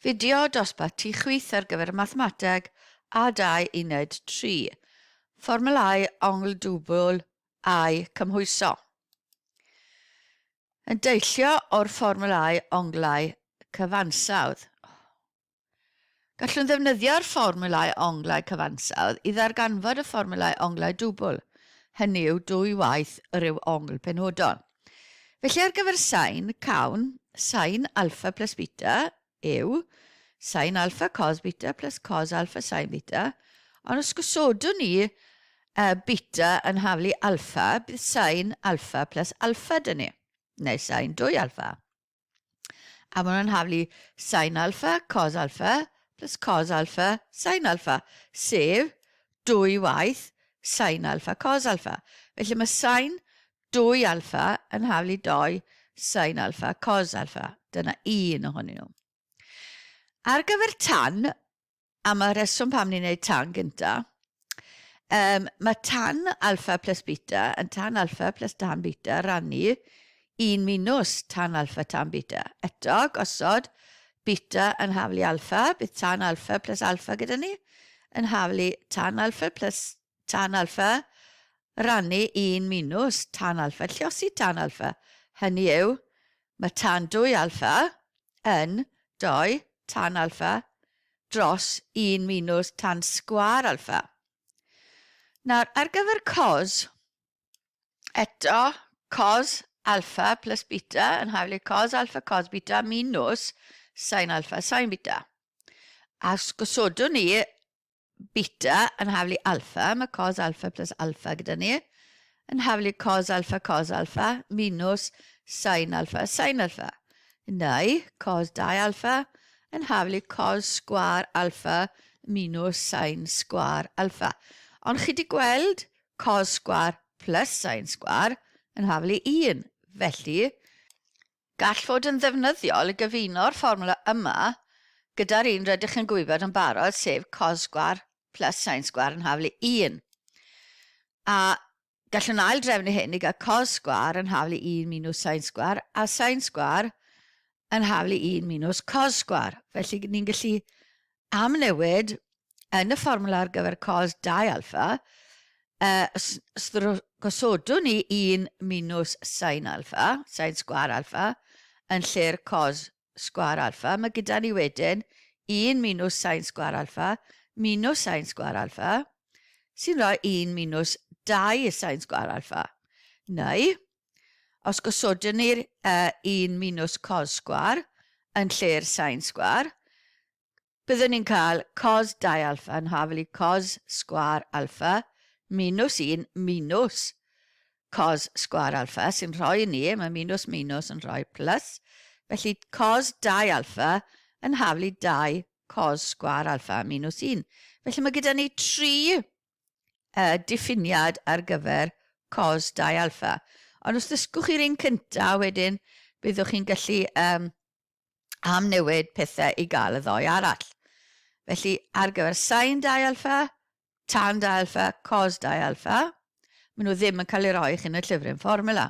Fideo dosbarth ti chwith ar gyfer y mathemateg a dau uned tri. Fformwlâu ongl dwbl a'u cymhwyso. Yn deillio o'r fformwlâu onglau cyfansawdd. Gallwn ddefnyddio'r fformwlau onglau cyfansawdd i ddarganfod y fformwlau onglau dwbl, hynny yw dwy waith y rhyw ongl penodol. Felly ar gyfer sain, cawn, sain alffa plus beta yw sain alffa cos beta plus cos alffa sain beta, ond os gosodwn ni uh, beta yn haflu alffa, bydd sain alffa plus alffa dyn ni, neu sain dwy alffa. A maen nhw'n haflu sain alfa, cos alfa, plus cos alfa, sain alfa, sef dwy waith sain alfa, cos alfa. Felly mae sain dwy alfa yn haflu doi sain alfa, cos alfa. Dyna un ohonyn nhw. Ar gyfer tan, Am y rheswm pam ni'n neud tan gynta. Yym, mae tan alfa plus beta yn tan alfa plus tan beta rannu un minus tan alfa tan beta. Eto, gosod beta yn haflu alfa, bydd tan alfa plus alfa gyda ni yn haflu tan alfa plus Tan alfa, rannu un minws tan alfa, lliosi tan alfa, hynny yw, mae tan dwy alfa yn dou tan alfa dros un minws tan sgwâr alfa. Nawr, ar gyfer cos, eto, cos alfa plus beta yn hawlu i cos alfa cos beta minws sain alfa sain beta. A os gosodwn ni beta yn haflu alpha, mae cos alpha plus alpha gyda ni, yn haflu cos alpha cos alpha minus sin alpha sin alpha. Neu cos 2 alpha yn haflu cos sgwar alpha minus sin sgwar alpha. Ond chi wedi gweld cos sgwar plus sin sgwar yn haflu 1. Felly, Gall fod yn ddefnyddiol i gyfuno'r fformwla yma gyda'r un rydych yn gwybod yn barod, sef cos-sgwâr plus sin-sgwâr yn haflu 1. A gallwn ail-drefnu hyn i gael cos-sgwâr yn haflu 1 minws sin-sgwâr a sin-sgwâr yn haflu 1 minws cos-sgwâr. Felly, ni'n gallu amnewid yn y fformwla ar gyfer cos dau alffa, os gosodwn ni un minws sin alffa, sin sgwâr alffa, yn lle'r cos sgwâr alffa, mae gyda ni wedyn un minws sin sgwâr alffa, minws sin sgwâr alffa, sy'n rhoi un minws dau sin sgwâr alffa. Neu, Os gosodwn ni'r yy un minws cos sgwâr yn lle'r sain sgwâr, byddwn ni'n cael cos 2 alfa yn hafel i cos sgwâr alfa minws 1 minws cos sgwâr alfa, sy'n rhoi ni, mae minws minws yn rhoi plus, felly cos 2 alfa yn hafel i 2 cos sgwâr alfa minws 1. Felly mae gyda ni tri y diffiniad ar gyfer cos dau alpha. Ond os ddysgwch chi'r un cynta, wedyn byddwch chi'n gallu um, amnewid pethau i gael y ddoe arall. Felly, ar gyfer sain dau alpha, tan dau alpha, cos dau alpha, maen nhw ddim yn cael ei roi chi'n y llyfryn fformula.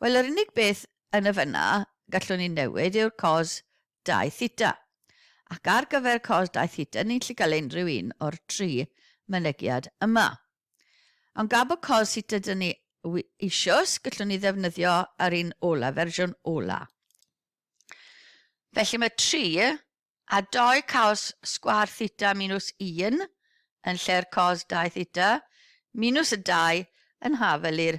Wel, yr unig beth yn y fyna gallwn ni newid yw'r cos 2 theta. Ac ar gyfer cos 2 theta, ni'n gallu cael unrhyw un o'r tri mynegiad yma. Ond gab bod cos theta dyn ni eisios, gallwn ni ddefnyddio ar un ola, fersiwn ola. Felly mae 3 a 2 caos sgwar theta minus 1 yn lle'r cos 2 theta minus y 2 yn hafel i'r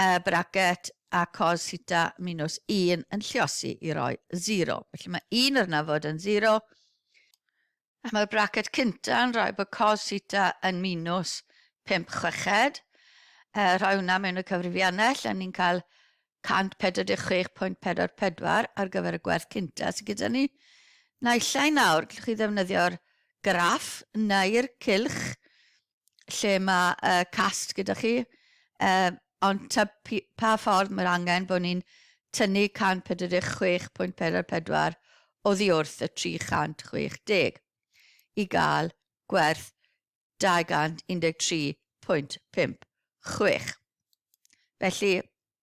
y bracket a cos theta minus 1 yn lliosi i roi 0. Felly mae 1 yr yna fod yn 0, a mae'r bracket cynta yn rhoi bod cos theta yn minus 5 chweched. E, rhoi hwnna mewn y cyfrifiannell, a ni'n cael 146.44 ar gyfer y gwerth cynta sydd gyda ni. Naillai nawr, gallwch chi ddefnyddio'r graff neu'r cylch lle mae y cast gyda chi, yy ond ta p- pa ffordd mae'r angen bod ni'n tynnu 146.44 oddi wrth y 360 i gael gwerth 213.56. Felly,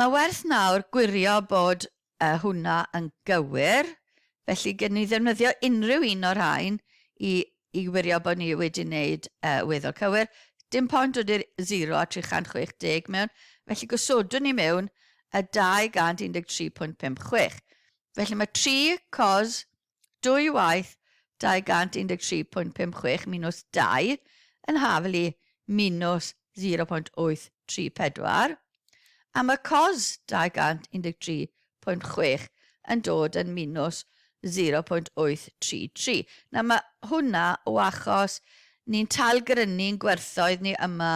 Mae werth nawr gwirio bod y hwnna yn gywir, felly gei ni ddefnyddio unrhyw un o'r rhain i i wirio bod ni wedi wneud y weddol cywir. Dim point dod i'r 0 a 360 mewn, felly gosodwn ni mewn y 213.56. Felly mae 3 cos dwy waith 213.56 minws 2 yn hafl i minws 0.834, a mae cos 213.6 yn dod yn minws 0.833. Nawr mae hwnna o achos ni'n tailgrynu'n gwerthoedd ni yma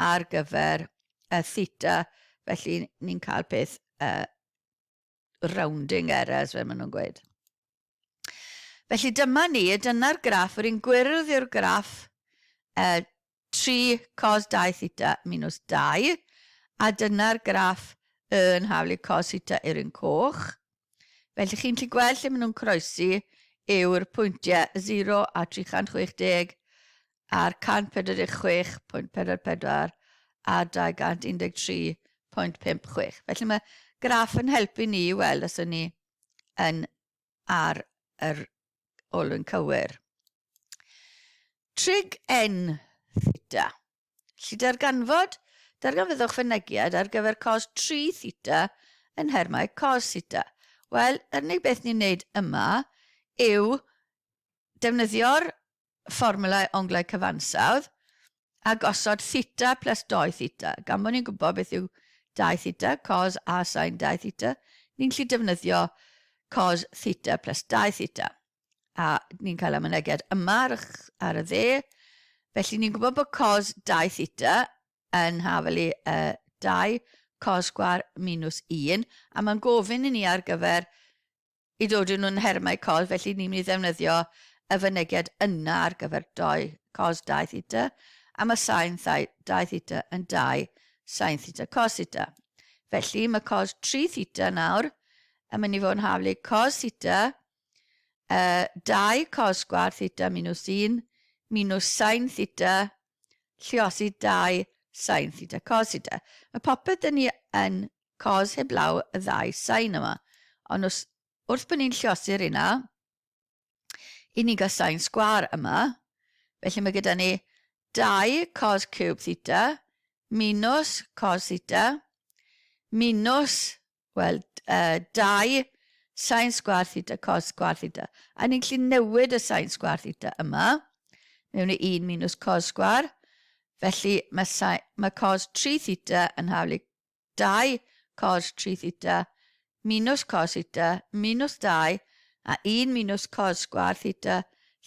ar gyfer y theta, felly ni'n cael peth uh, rounding errors fel maen nhw'n gweud. Felly dyma ni, dyna'r graff, yr un gwyrdd yw'r graff uh, 3 cos 2 theta minus 2, a dyna'r graff yn haflu cos theta yw'r un coch. Felly chi'n gallu gweld lle maen nhw'n croesi yw'r pwyntiau 0 a 360 ar 146.44 a 213.56. Felly mae graff yn helpu ni i weld os y'n ni yn ar yr olwyn cywir. Trig n theta. Lli darganfod, darganfyddwch fynegiad ar gyfer cos 3 theta yn nhermau cos theta. Wel, yr unig beth ni'n neud yma yw defnyddio'r fformwlau onglau cyfansawdd a gosod theta plus 2 theta. Gan bod ni'n gwybod beth yw 2 theta, cos a sain 2 theta, ni'n gallu defnyddio cos theta plus 2 theta. A ni'n cael y mynegiad yma ar y, ar y dde. Felly ni'n gwybod bod cos 2 theta yn hafelu uh, 2 cos sgwar minus 1, a mae'n gofyn i ni ar gyfer Y dodyn nhw'n nhermau cos, felly ni'n mynd i ddefnyddio y fynegiad yna ar gyfer dou cos dau theta, a mae sain thai dau theta yn dau sain theta cos theta. Felly mae cos 3 theta nawr yn mynd i fod yn haflu cos theta, uh, dau cos sgwar theta minus un, minus sain theta Lluosi dau Sain theta cos theta. Mae popeth dyn ni yn cos heblaw y ddau sain yma. Ond os, wrth bod ni'n lluosi'r rheina, i ni'n cael sain sgwâr yma, felly mae gyda ni dau cos ciwb theta minus cos theta minus Wel, uh, dau sain sgwar theta cos sgwar theta. A ni'n gallu newid y sain sgwar theta yma mewn i 1 minus cos sgwar. Felly mae, sain, mae cos 3 theta yn haflu 2 cos 3 theta minus cos theta minus 2 a 1 minus cos sgwar theta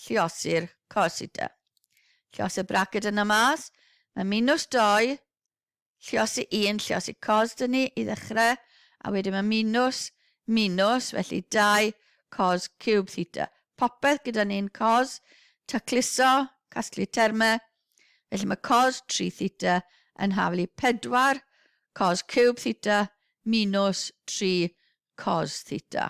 lliosi'r cos theta. Lliosi'r braced yna mas. Mae minus 2 Lluosi un, lluosi cos dŷ ni i ddechrau, a wedyn mae minws, minws, felly dau cos ciwb theta. Popeth gyda ni'n cos, tacluso, casglu termau, felly mae cos 3 theta yn hafel i 4 cos ciwb theta minws 3 cos theta.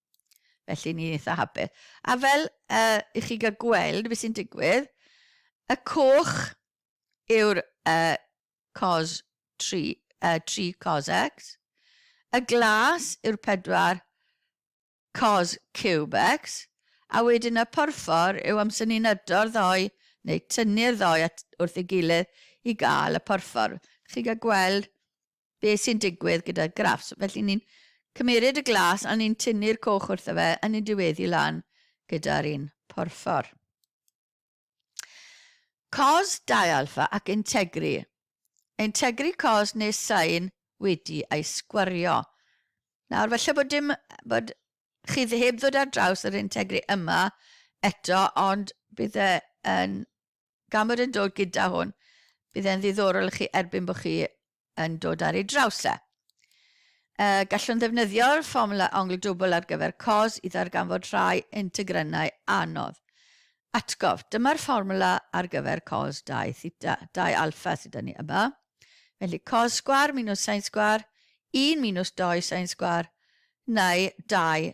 Felly, ni'n eitha hapus. A fel uh, i chi gael gweld beth sy'n digwydd, y coch yw'r uh, cos 3, uh, 3 cos x, y glas yw'r 4 cos cube x, a wedyn y porffor yw amser ni'n ydo'r ddoi neu tynnu'r ddoi at, wrth ei gilydd i gael y porffor. Chi gael gweld beth sy'n digwydd gyda'r graffs. Felly ni'n cymeryd y glas a ni'n tynnu'r coch wrtho fe a ni'n diweddu lan gyda'r un porffor. Cos dialpha ac integri. Integri cos neu sain wedi ei sgwario. Nawr falle bod dim bod chi heb ddod ar draws yr integri yma eto ond bydd e yn Cameron yn dod gyda hwn. Bydd e'n ddiddorol i chi erbyn bod chi yn dod ar ei draws e. Uh, gallwn ddefnyddio'r fformula ongl dwbl ar gyfer cos i ddarganfod rhai integrynau anodd. Atgof, dyma'r fformula ar gyfer cos 2 theta, 2 alfa sydd ni yma. Felly cos sgwar minus sain sgwar, 1 minus 2 sain sgwar, neu 2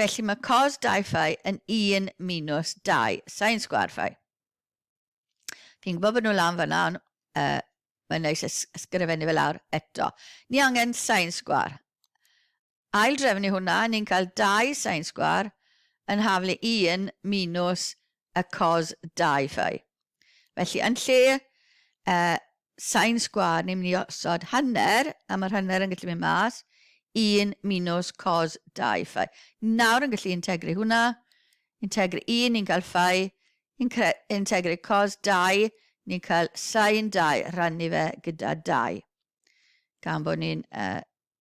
Felly mae cos dau fai yn un minws dau sain sgwâr fai. Fi'n gwybod bod nhw lan fanna, ond uh, mae'n neis ysgrifennu fe lawr eto. Ni angen sain sgwâr. Ail drefnu hwnna, ni'n cael dau sain sgwâr yn haflu un minws y cos Dai-Fi. Felly, yn lle y sain sgwâr, ni'n mynd i osod hanner, a mae'r hanner yn gallu mynd mas, 1 minus cos Dai-Fi. Nawr yn gallu integru hwnna, integru 1, ni'n cael Fi, integru cos Dai, ni'n cael sain Dai, rannu fe gyda Dai. Gan bod ni'n uh,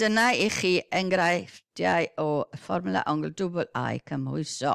Dyna i chi enghreifftiau o fformwla ongl dwbl a'u cymhwyso.